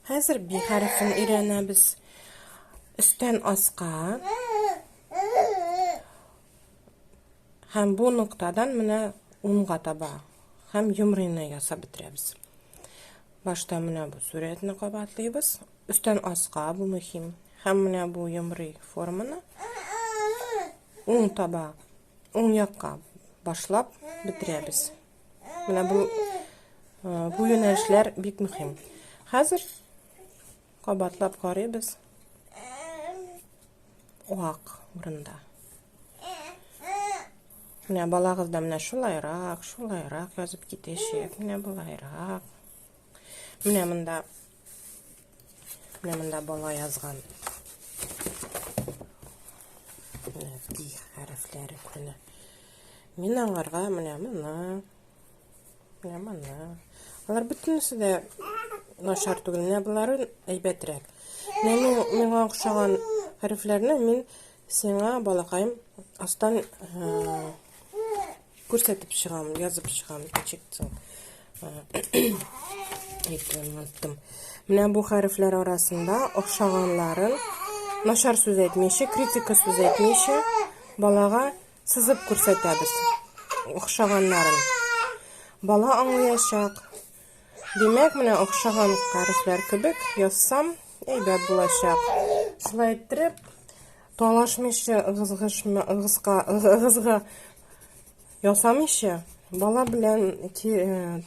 Хәзер би хәрефен өйрәнәбез. Өстән аска. Һәм бу ноктадан менә унга таба. Һәм юмрыйны ясап бетерәбез. Башта менә бу сурәтне кабатлыйбыз. Өстән аска бу мөһим. Һәм менә бу юмрый форманы уң таба, уң якка башлап бетерәбез. Менә бу бу юнәлешләр бик мөһим. Хәзер кабатлап карыйбыз. Уак урында. Менә балагыз да менә шулайрак, шулайрак язып китәчәк. Менә булайрак. Менә монда Менә монда бала язган. Ди хәрефләре көне. Мин аңарга менә моны. Менә моны. Алар бөтенесе дә начар түгел. Менә болары әйбәтрәк. Менә миңа охшаган хәрефләрне мин сиңа балакаем астан э, Күрсәтеп чыгам, язып чыгам, ничектсең. Әйтәм, айттым. Менә бу хәрефләр арасында охшаганларын нашар сүз әйтмичә, критика сүз әйтмичә балага сызып күрсәтәбез. Охшаганнарын. Бала аңлаячак. Димәк, менә охшаган хәрефләр кебек язсам, әйбәт булачак. Шулай иттереп, Талашмыйча, ыгызгышмы, ыгызка, ыгызга ясамыйча, бала белән ки, э,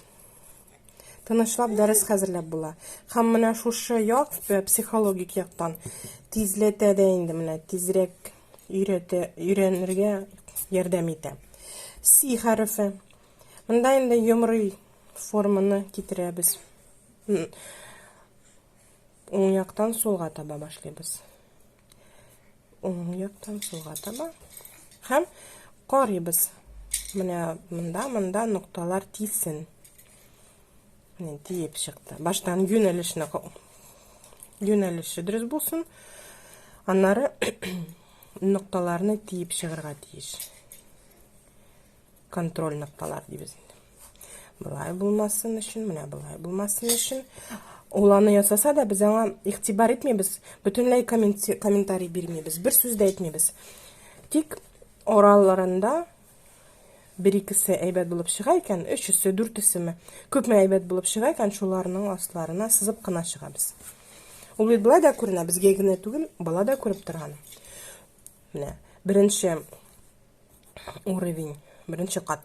тынычлап дәрес хәзерләп була. Һәм менә шушы як, э, психологик яктан тизләтә дә инде менә тизрәк өйрәтә, өйрәнергә ярдәм итә. Си хәрефе. Монда инде йомрый форманы китерәбез. Уң яктан сулга таба башлыйбыз. Уң яктан сулга таба. Һәм карыйбыз. Менә монда, монда нокталар тисен. Менә тиеп чыкты. Баштан юнәлешне юнәлеше дөрес булсын. Аннары нокталарны тиеп чыгарга тиеш. контроль нокталар дибез инде былай булмасын өчен менә былай булмасын өчен ул аны ясаса да без аңа игътибар итмибез бөтенләй комментарий бирмибез бер сүз дә әйтмибез тик араларында бер икесе әйбәт булып чыга икән өчесе дүртесеме күпме әйбәт булып чыга икән шуларның асларына сызып кына чыгабыз ул бит былай да күренә безгә генә түгел бала да күреп торган менә беренче уровень беренче кат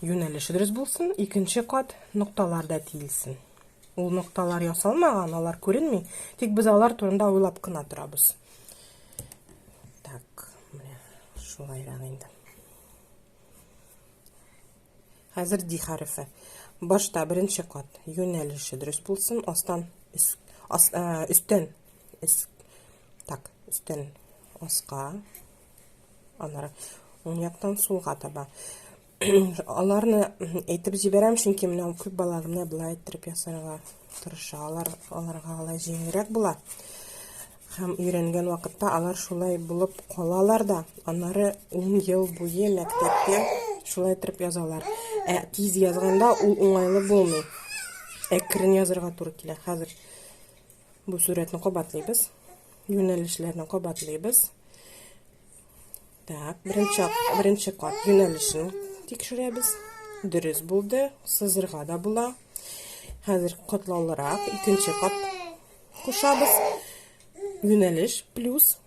юнәлеше дөрес булсын икенче кат нокталар да тиелсен ул нокталар ясалмаган алар күренми тик без алар турында уйлап кына торабыз так менә шулайрак инде хәзер ди хәрефе башта беренче кат юнәлеше дөрес булсын астан өстен так өстен аска Аннары уң яктан сулга таба. Аларны әйтеп җибәрәм, чөнки менә күп бала гына болай иттереп ясарга тырыша. Алар аларга алай җиңелрәк була. Һәм өйрәнгән вакытта алар шулай булып калалар да, аннары 10 ел буе мәктәптә шулай иттереп язалар. Ә тиз язганда ул уңайлы булмый. Әкрен язырга туры килә. Хәзер Бу сурәтне кабатлыйбыз. Юнәлешләрне кабатлыйбыз. Так, беренче, беренче кат юнәлешен тикшерәбез. Дөрес булды, сызырга да була. Хәзер катлаулырак икенче кат кушабыз. Юнәлеш плюс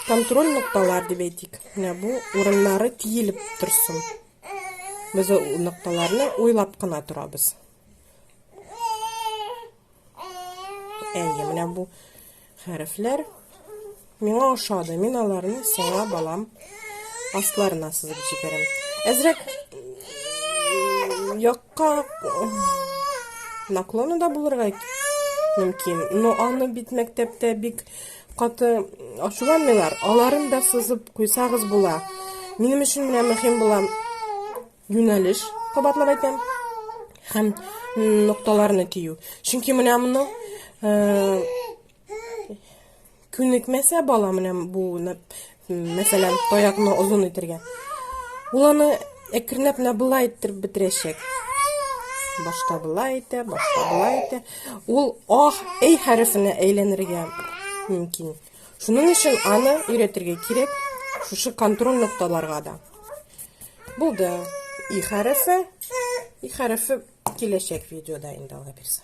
контроль нокталар дип әйтик. Менә бу урыннары тиелеп торсын. Без нокталарны уйлап кына торабыз. Әйе, менә бу хәрефләр миңа ошады. Мин аларны сиңа балам асларына сызып җибәрәм. Әзрәк якка наклоны да булырга мөмкин. Но аны бит мәктәптә бик каты ачуланмыйлар. Аларын да сызып куйсагыз була. Минем өчен менә мөһим була юнәлеш, кабатлап әйтәм, һәм нокталарны кию. Чөнки менә моны э, күнекмәсә бала менә бу мәсәлән таякны озын итергә. Ул аны әкренләп менә былай иттереп бетерәчәк. Башта былай итә, башта былай итә. Ул ах, әй хәрефенә әйләнергә мөмкин. Шуның өчен аны өйрәтергә кирәк шушы контроль нокталарга да. Булды. И хәрефе. И хәрефе киләчәк видеода инде алла бирсә.